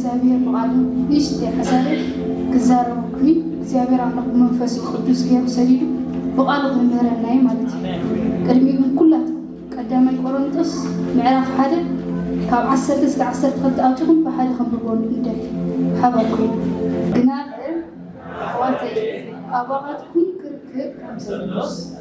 እግዚኣብሔር ብቓሉ ንእሽተይ ሓሳብ ክዛረበኩኒ እግዚኣብሔር ኣምላኽ ብመንፈሱ ቅዱስ ገይሩ ሰዲዱ ብቓሉ ክምህረና እዩ ማለት እዩ ቅድሚ ግን ኩላት ቀዳማይ ቆሮንጦስ ምዕራፍ ሓደ ካብ ዓሰርተ እስከ ዓሰርተ ክልተ ኣውፅኹም ብሓደ ከንብቦ ንደል ሓበርኩ ግና ኣሕዋተይ ኣባኻትኩም ክርክብ ከም ዘሎስ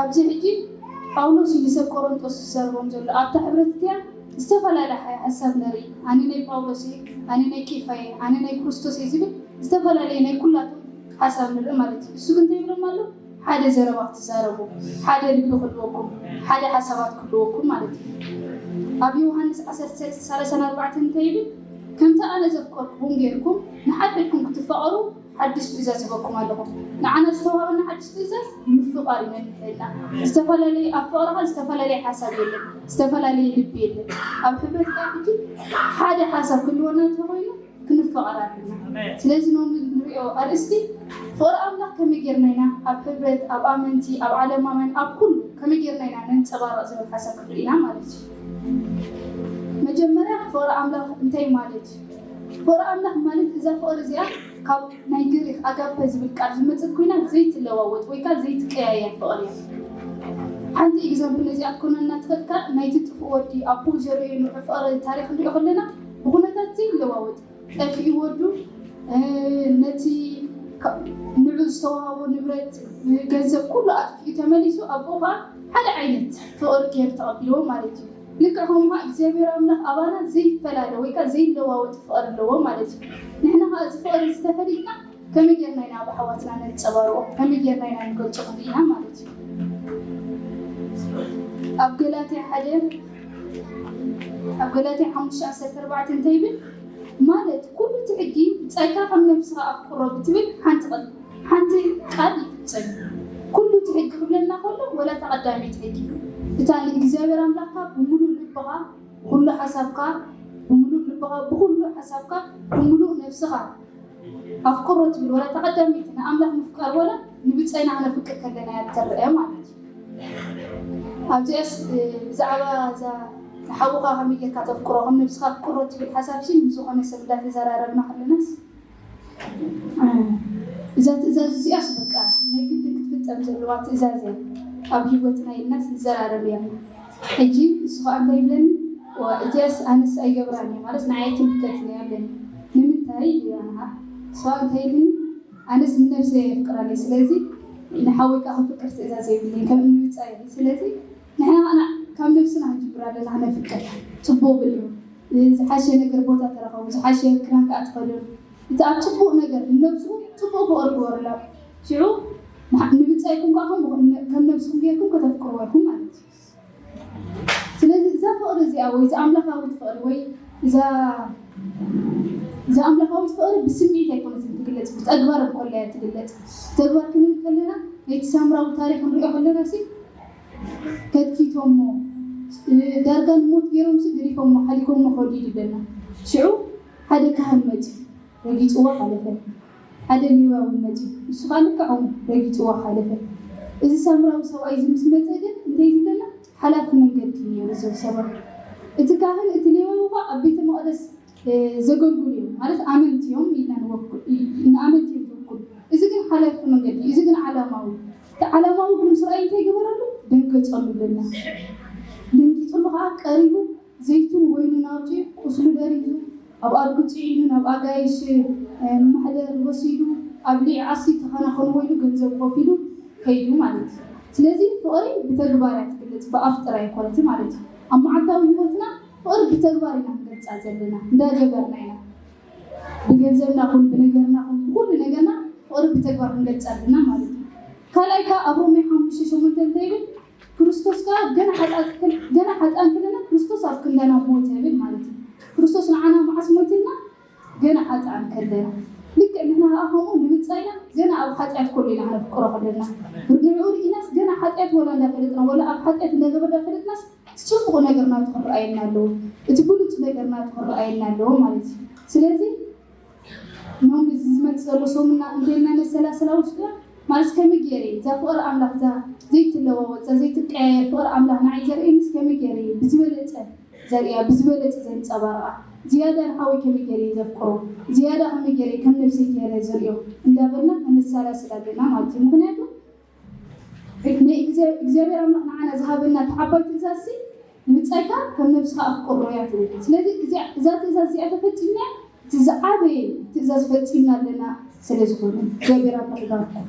ኣብዚ ሕጂ ጳውሎስ እዩ ንሰብ ቆሮንቶስ ዝዛረቦም ዘሎ። ኣብታ ሕብረት እቲኣ ዝተፈላለ ሓ ሓሳብ ንርኢ። ኣነ ናይ ጳውሎስ እየ፣ ኣነ ናይ ኬፋ እየ፣ ኣነ ናይ ክርስቶስ እየ ዝብል ዝተፈላለየ ናይ ኩላቶም ሓሳብ ንርኢ ማለት እዩ። እሱ ግን እንታይ ይብሎም ኣሎ? ሓደ ዘረባ ክትዛረቡ፣ ሓደ ልቢ ክህልወኩም፣ ሓደ ሓሳባት ክህልወኩም ማለት እዩ። ኣብ ዮውሃንስ ዓሰርተ ሰለስተ ሰላሳን ኣርባዕተን እንታይ ይብል? ከምቲ ኣነ ዘፍቀርኩኹም ጌርኩም ንሓድሕድኩም ክትፋቐሩ ሓድሽ ትእዛዝ እህበኩም ኣለኹ፣ ንዓና ዝተዋህበና ሓድሽ ትእዛዝ ምፍቓር እዩ መምርሒና፣ ዝተፈላለየ ኣብ ፍቕሪ ኸኣ ዝተፈላለየ ሓሳብ የለን፣ ዝተፈላለየ ልቢ የለን፣ ኣብ ሕብረት ከኣ ሕጂ ሓደ ሓሳብ ክህልወና እንተ ኾይኑ ክንፍቐር ኣለና። ስለዚ ሎሚ ንርእዮ ኣርእስቲ ፍቕሪ ኣምላኽ ከመይ ጌርና ኢና ኣብ ሕብረት፣ ኣብ ኣመንቲ፣ ኣብ ዓለማውያን፣ ኣብ ኩሉ ከመይ ጌርና ኢና ነንጸባርቕ ዝብል ሓሳብ ክንርኢ ኢና ማለት እዩ። መጀመርያ ፍቕሪ ኣምላኽ እንታይ ማለት እዩ? ፍቕሪ ኣምላኽ ማለት እዛ ፍቕሪ እዚኣ ካብ ናይ ግሪኽ ኣጋፐ ዝብል ቃል ዝመጸት ኮይና ዘይትለዋወጥ ወይ ከኣ ዘይትቀያየር ፍቕሪ እያ። ሓንቲ ኢግዛምፕል ነዚኣ ክትኮነና ትኽእል ከኣ ናይቲ ጥፉእ ወዲ ኣቡኡ ዘርእዮ ንውሕ ፍቕሪ ታሪኽ ክንሪኦ ከለና ብኹነታት ዘይለዋወጥ ጠፊኡ ወዱ ነቲ ንዑ ዝተዋሃቦ ንብረት ገንዘብ ኩሉ ኣጥፊኡ ተመሊሱ ኣቡኡ ከኣ ሓደ ዓይነት ፍቕሪ ጌሩ ተቐቢልዎ ማለት እዩ። ልክዕ ከምኡ ከኣ እግዚኣብሔር ኣምላኽ ኣባና ዘይፈላለ ወይ ከኣ ዘይለዋወጥ ፍቕሪ ኣለዎ ማለት እዩ። ንሕና ከኣ እዚ ፍቕሪ እዚ ተፈሊጥና ከመይ ጌርና ኢና ኣብ ኣሕዋትና ነንጸባርቆ ከመይ ጌርና ኢና ንገልጾ ክንርኢ ኢና ማለት እዩ። ኣብ ገላትያ ሓደ ኣብ ገላትያ ሓሙሽተ ዓሰርተ ኣርባዕተ እንታይ ይብል ማለት ኩሉ እቲ ሕጊ ብጻይካ ከም ነብስኻ ኣፍቅሮ ብትብል ሓንቲ ቐንዲ ሓንቲ ቃል ይፍጸም እዩ። ኩሉ እቲ ሕጊ ክብለና ከሎ ወላ እታ ቀዳመይቲ ሕጊ እታ ንእግዚኣብሔር ኣምላኽካ ብምሉእ ልብኻ ብኹሉ ሓሳብካ ብምሉእ ልብኻ ብኹሉ ሓሳብካ ብምሉእ ነፍስኻ ኣፍቅሮ ትብል ወላ እታ ቀዳመይቲ ንኣምላኽ ምፍቃር ወላ ንብጸይና ክነፍቅር ከለና እያ እትረኣ ማለት እዩ። ኣብዚኣስ ብዛዕባ እዛ ንሓውኻ ከመይ ጌርካ ተፍቅሮ ከም ነብስኻ ኣፍቅሮ ትብል ሓሳብሲ ምስ ዝኾነ ሰብ እንዳተዘራረብና ከለናስ እዛ ትእዛዝ እዚኣስ በቃ ናይ ግድን ክትፍጸም ዘለዋ ትእዛዝ እያ ኣብ ሂወትና ኢልናስ ንዘራረብ እያ ሕጂ ንሱ ከኣ እንታይ ይብለኒ እዋ እዚኣስ ኣነስ ኣይገብራን እየ ማለት ንዓይ ኣይትምልከትን እያ ኣለኒ ንምንታይ ኢሉ ይራሃሃ ንሱ ከኣ እንታይ ኢልኒ ኣነስ ንነብሰይ ኣየፍቅራን እየ ስለዚ ንሓወይ ከኣ ከፍቅር ትእዛዝ የብለይን ከም እኒ ምጻይ እየ ስለዚ ንሕና ከኣ ካብ ነብስና ክንጅብር ኣሎና ክነፍቅር ጽቡቅ ብሉ ዝሓሸ ነገር ቦታ ተረከቡ ዝሓሸ ክዳን ከኣ ተከደኑ እቲ ኣብ ጽቡቅ ነገር ንነብስኩም ጽቡቅ ፍቅሪ ግበሩላ ሽዑ ንብጻይኩም ከኣ ከምኡ ከም ነብስኩም ገርኩም ከተፍቅርዎ ኢኩም ማለት እዩ ስለዚ እዛ ፍቅሪ እዚኣ ወይ እዛ ኣምላካዊት ፍቅሪ ወይ እዛ እዛ ኣምላካዊት ፍቅሪ ብስምዒት ኣይኮነትን ትግለጽ ብተግባር እንኮላ እያ ትግለጽ ተግባር ክንብል ከለና ነቲ ሳምራዊ ታሪክ ክንሪኦ ከለና ሲ ከትኪቶሞ ዳርጋ ንሞት ጌሮምሲ ገዲፎሞ ሓሊፎሞ ከዱ ኢሉ በላ ሽዑ ሓደ ካህን መጽዩ ረጊጽዋ ሓለፈ ሓደ ሌዋዊ መጽዩ ንሱ ከኣ ልክዖም ረጊጽዋ ሓለፈ እዚ ሳምራዊ ሰብኣይ እዚ ምስ መጸ ግን እንተ ዝበላ ሓላፊ መንገዲ እዩ ኔሩ እዞም ሰባት እቲ ካህን እቲ ሌዋዊ ከኣ ኣብ ቤተ መቅደስ ዘገልግሉ እዮም ማለት ኣመንቲ እዮም ኢልና ንወክል ንኣመንቲ እዮም ዝውክሉ እዚ ግን ሓላፊ መንገዲ እዚ ግን ዓላማዊ እቲ ዓላማዊ ግን ምስ ራእይ እንታይ ገበረሉ ደንገጸሉ ብለና ደንጊጽሉ ከዓ ቀሪቡ ዘይቱን ወይኑን ኣውፅኡ ቁስሉ ደሪዙ ኣብ ኣድጉ ፅዒኑ ናብ ኣጋይሽ ማሕደር ወሲዱ ኣብ ሊዕ ኣሲ ተኸናኸኑ ወይሉ ገንዘብ ኮፊሉ ከይዱ ማለት እዩ ስለዚ ፍቕሪ ብተግባር እያ ትግለጽ ብኣፍ ጥራይ ኣይኮነትን ማለት እዩ ኣብ መዓልታዊ ህይወትና ፍቕሪ ብተግባር ኢና ክንገልጻ ዘለና እንዳ ገበርና ኢና ብገንዘብና ኩን ብነገርና ኩን ብኩሉ ነገርና ፍቕሪ ብተግባር ክንገልጻ ኣለና ማለት እዩ ካልኣይ ከኣ ኣብ ሮሜ ሓሙሽተ ሸሞንተ እንታይ ይብል ክርስቶስ ከኣ ገና ሓጥኣት ገና ሓጥኣን ከለና ክርስቶስ ኣብ ክንዳና ሞተ ይብል ማለት እዩ ክርስቶስ ንዓና መዓስ ሞይትልና ገና ሓጥኣን ከለ ልክዕ ንሕና ከኣ ከምኡ ንምጻኢና ገና ኣብ ሓጢኣት ከሎ ኢና ከነፍቅሮ ከለና ንዕኡ ርኢናስ ገና ሓጢኣት ወላ እንዳፈለጥና ወላ ኣብ ሓጢኣት እንዳገበርና ፈለጥናስ እቲ ጽቡቕ ነገር ናቱ ክረኣየና ኣለዎ እቲ ብሉጽ ነገር ናቱ ክረኣየና ኣለዎ ማለት እዩ ስለዚ ኖም እዚ ዝመጽእ ዘሎ ሰሙና እንታይ ኢልና ነሰላስላ ውሽጥና ማለት ከመይ ገይረ እየ እዛ ፍቕሪ ኣምላኽ እዛ ዘይትለዋወጥ እዛ ዘይትቀያየር ፍቕሪ ኣምላኽ ንዓይ ዘርእየኒስ ከመይ ገይረ እየ ብዝበለጸ ዘርእያ ብዝበለጸ ዘንጸባርቓ ዝያዳ ንሓወይ ከመይ ጌረ እየ ዘፍቅሮ ዝያዳ ከመይ ጌረ እየ ከም ነብሰይ ጌረ ዝርእዮ እንዳበልና ከነሳላስል ኣለና ማለት እዩ ምክንያቱ ናይ እግዚኣብሔር ኣምላኽ ንዓና ዝሃበና እቲ ዓባይ ትእዛዝሲ ንብጻይካ ከም ነብስኻ ኣፍቅሮ እያ ትብል ስለዚ እዛ ትእዛዝ እዚኣ ተፈጺምና እቲ ዝዓበየ ትእዛዝ ፈጺምና ኣለና ስለ ዝኾነ እግዚኣብሔር ኣምላኽ ይባርኩም